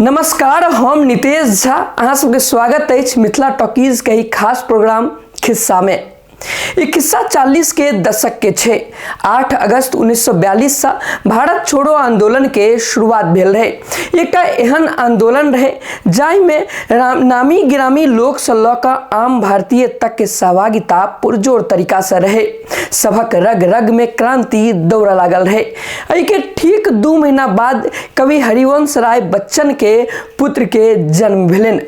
नमस्कार हम नितेश झा अहाँ सबके स्वागत अछि मिथिला टॉकीज के एक खास प्रोग्राम खिस्सा में ई खिस्सा 40 के दशक के छै 8 अगस्त 1942 से भारत छोड़ो आंदोलन के शुरुआत भेल रहे एकटा एहन आंदोलन रहे जाहि में राम- नामी गिरामी लोक से लऽ कऽ आम भारतीय तक के सहभागिता पुरजोर तरीका से रहे सभक रग रग में क्रांति दौड़ लागल रहे एहि के ठीक दू महीना बाद कवि हरिवंश राय बच्चन के पुत्र के जन्म भेलन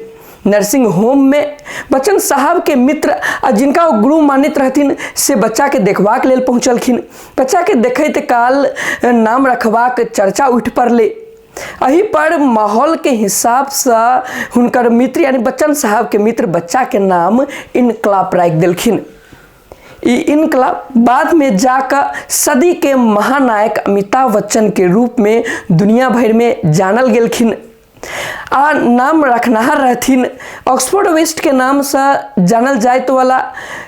नर्सिंग होम में बच्चन साहब के मित्र आ जिनका ओ गुरु मानित रहथिन से बच्चा के देखबाक लेल पहुँचलखिन बच्चा के देखैत काल नाम रखबाक चर्चा उठि पड़लै एहि पर माहौल के हिसाब से हुनकर मित्र यानी बच्चन साहब के मित्र बच्चा के नाम इनकलाप राखि देलखिन ई इनकलाब बाद में जाकर सदी के महानायक अमिताभ बच्चन के रूप में दुनिया भर में जानल गेलखिन आ नाम रखनहार रहथिन ऑक्सफोर्ड वेस्ट के नाम से जानल जायत वाला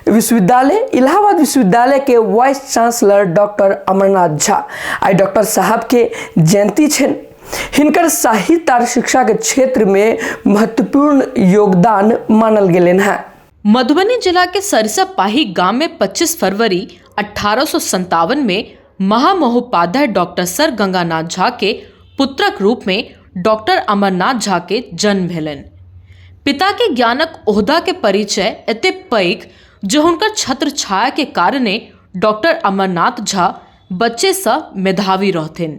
विश्वविद्यालय इलाहाबाद विश्वविद्यालय के vice chancellor doctor Amarnath Jha आई डॉक्टर साहब के जयंती छन हिनकर साहित्य और शिक्षा के क्षेत्र में महत्वपूर्ण योगदान मानल गेलन है मधुबनी जिला के सरसा पाही गांव में 25 फरवरी अठारह में महामहोपाध्याय डॉक्टर सर गंगानाथ झा के पुत्रक रूप में डॉक्टर अमरनाथ झा के जन्म भेलनि पिता के ज्ञानक ओहदा के परिचय एते पैघ जे हुनकर छत्र छाया के कारणे डॉक्टर अमरनाथ झा बच्चे सँ मेधावी रहथिन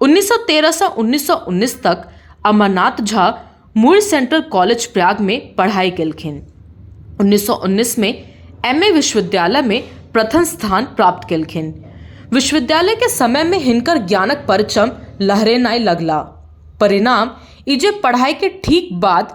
उन्नैस सए तेरहसँ उन्नैस सए उन्नैस तक अमरनाथ झा मुर सेन्ट्रल कॉलेज प्रयागमे पढ़ाइ केलखिन उन्नैस सए उन्नैसमे एम ए विश्वविद्यालयमे प्रथम स्थान प्राप्त केलखिन विश्वविद्यालयके समयमे हिनकर ज्ञानक परचम लहरेनाइ लगला परिणाम ई जे पढ़ाइके ठीक बाद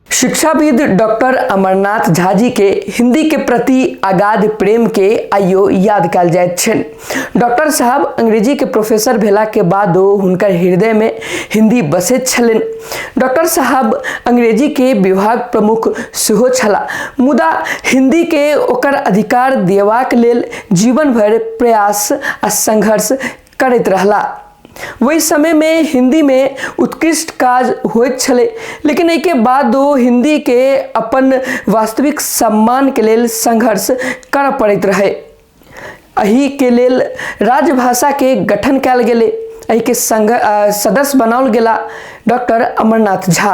शिक्षाविद डॉक्टर अमरनाथ झा जी के हिंदी के प्रति अगाध प्रेम के आइयो याद कल जाइत छन डॉक्टर साहब अंग्रेजी के प्रोफेसर भेला के बादो हुनकर हृदय में हिंदी बसैत छलन डॉक्टर साहब अंग्रेजी के विभाग प्रमुख सेहो छला मुदा हिंदी के ओकर अधिकार देवाक लेल जीवन भर प्रयास आ संघर्ष करैत रहला वही समय में हिंदी में उत्कृष्ट काज होइत छले लेकिन एहिके बाद ओ हिंदी के अपन वास्तविक सम्मान के लेल संघर्ष करऽ पड़ैत रहे एहि के लेल राजभाषा के गठन कयल गेले एहि के संघ अ, सदस्य बनाओल गेला डॉक्टर अमरनाथ झा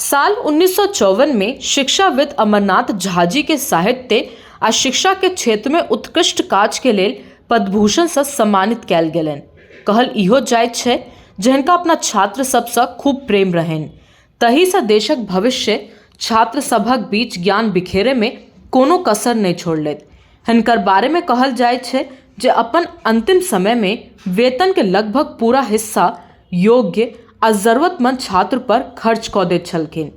साल उन्नीस में शिक्षाविद अमरनाथ झाजी के साहित्य आ शिक्षा के क्षेत्र में उत्कृष्ट काज के लेल पद्मभूषण से सम्मानित कयल गेलनि कहल इहो जाइत छै जे हिनका अपना छात्र सबसँ खूब प्रेम रहनि तहीसँ देशक भविष्य छात्र सभक बीच ज्ञान बिखेरे में कोनो कसर नहि छोड़लथि हिनकर बारे में कहल जाइत छै जे अपन अंतिम समय में वेतन के लगभग पूरा हिस्सा योग्य आ जरूरतमन्द छात्र पर खर्च कऽ दैत छलखिन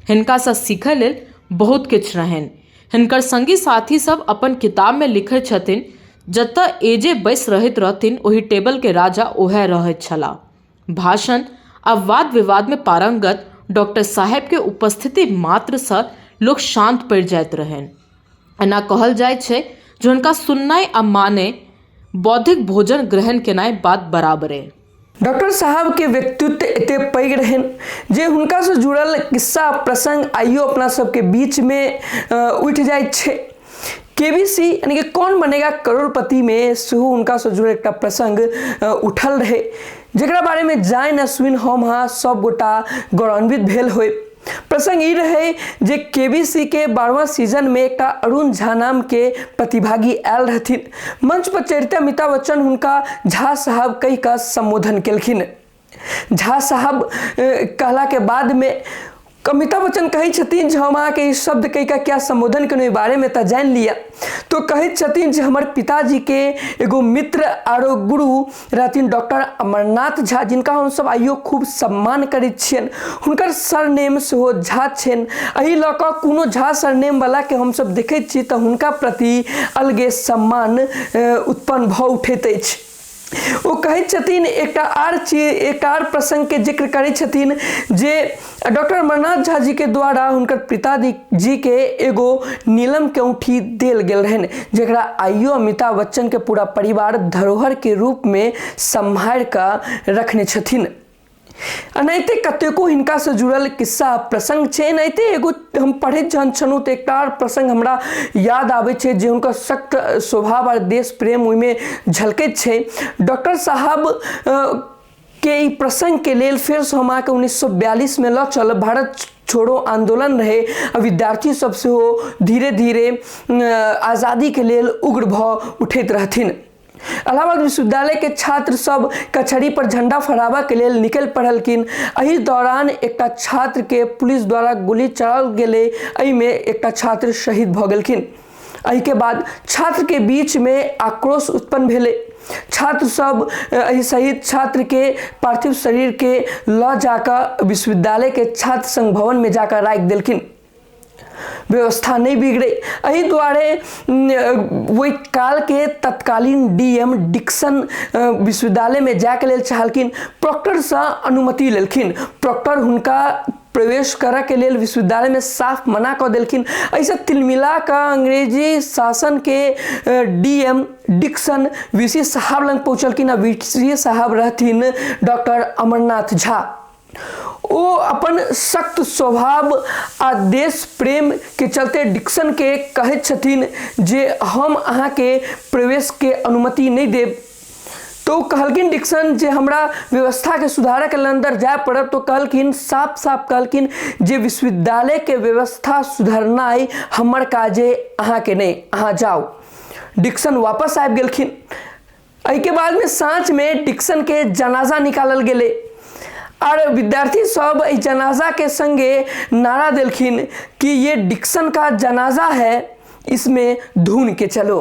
हिनकासँ सीखऽ लेल बहुत किछु रहनि हिनकर सङ्गी साथी सब अपन किताबमे लिखैत छथिन जतऽ ए जे बैस रहैत रहथिन ओहि टेबलके राजा ओएह रहैत छलाह भाषण आ वाद विवादमे पारङ्गत डॉक्टर साहेबके उपस्थिति मात्रसँ लोक शान्त पड़ि जाइत रहनि एना कहल जाइत छै जे हुनका सुननाइ आ माने बौद्धिक भोजन ग्रहण केनाइ बात बराबरे। डॉक्टर साहबके व्यक्तित्व एते पैघ रहनि जे हुनकासँ जुड़ल किस्सा प्रसंग आइयो अपना सबके बीचमे उठि जाइत छै केबीसी यानी कि कौन बनेगा करोड़पतिमे सेहो हुनकासँ जुड़ल एकटा प्रसंग उठल रहै जकरा बारेमे जानि आ सुनि हम अहाँ सब गोटा गौरवान्वित भेल होइ प्रसंग ई रहे जे केबीसी के बारहवा सीजन में एकटा अरुण झा नाम के प्रतिभागी आयल रहथिन मंच पर चढ़ते अमिताभ बच्चन हुनका झा साहब कहि कऽ संबोधन केलखिन झा साहब अ, कहला के बाद में अमिताभ बच्चन कहै छथिन जे हम अहाँके ई शब्द कहि कऽ क्या संबोधन केलहुँ एहि बारेमे तऽ जानि लिअ तो कहैत छथिन जे हमर पिताजीके एगो मित्र आरो गुरु रहथिन डॉक्टर अमरनाथ झा जिनका हमसभ आइयो खूब सम्मान करैत छियनि हुनकर सरनेम सेहो झा छनि एहि लऽ कऽ कोनो झा सरनेमवलाके हमसभ देखैत छी तऽ हुनका प्रति अलगे सम्मान उत्पन्न भऽ उठैत अछि ओ कहैत छथिन एकटा आर चीज एकटा आर प्रसङ्गके जिक्र करैत छथिन जे डॉक्टर अमरनाथ झा जी के द्वारा हुनकर पिताजी जी के एगो नीलम के औंठी देल गेल रहन जरा आइयो अमिताभ बच्चन के पूरा परिवार धरोहर के रूप में सम्हार कऽ रखने छथिन एनाहिते कतेको हिनका से जुड़ल किस्सा प्रसंग छै एनाहिते एगो हम पढ़ैत जहन छलहुँ तऽ एकटा आओर प्रसंग हमरा याद आबै छै जे हुनकर सख्त स्वभाव आओर देश प्रेम ओहिमे झलकैत छै डॉक्टर साहब अ, के ई प्रसङ्गके लेल फेरसँ हम अहाँके उन्नैस सए बयालिसमे लऽ चलब भारत छोड़ो आन्दोलन रहै आ विद्यार्थी सब सेहो धीरे धीरे आजादीके लेल उग्र भऽ उठैत रहथिन इलाहाबाद विश्वविद्यालयके छात्र सब कचहरी पर झंडा फहराबऽके लेल निकलि पड़लखिन एहि दौरान एकटा छात्रके पुलिस द्वारा गोली चलाओल गेलै एहिमे एकटा छात्र शहीद भऽ गेलखिन एहिके बाद छात्रके बीचमे आक्रोश उत्पन्न भेलै छात्रसभ एहि सहित छात्रके पार्थिव शरीरके लऽ जाकऽ विश्वविद्यालयके छात्र संघ भवनमे जाकऽ राखि देलखिन व्यवस्था नहि बिगड़े एहि दुआरे ओहि कालके तत्कालीन डी एम डिक्सन विश्वविद्यालयमे जायके लेल चाहलखिन प्रॉक्टरसँ अनुमति लेलखिन प्रॉक्टर हुनका प्रवेश करऽ के लेल विश्वविद्यालय में साफ मना कऽ देलखिन ऐसे तिलमिला कऽ अंग्रेजी शासन के डीएम डिक्सन वीसी साहब लग पहुँचलखिन आ वीसी साहब रहथिन डॉक्टर अमरनाथ झा ओ अपन सख्त स्वभाव आ देश प्रेम के चलते डिक्सन के कहैत छथिन जे हम अहाँ के प्रवेश के अनुमति नहीं देब तो ओ कहलखिन डिक्सन जे हमरा व्यवस्थाके सुधारैके लेल अन्दर जाय पड़त तो कहलखिन साफ साफ कहलखिन जे विश्वविद्यालयके व्यवस्था सुधरनाइ हमर काजे अहाँके नहि अहाँ जाउ डिक्सन वापस आबि गेलखिन एहिके बादमे साँझमे डिक्सनके जनाजा निकालल गेलै आर विद्यार्थी सब एहि जनाजाके सङ्गे नारा देलखिन कि ये डिक्सन का जनाजा है इसमें धुन के चलो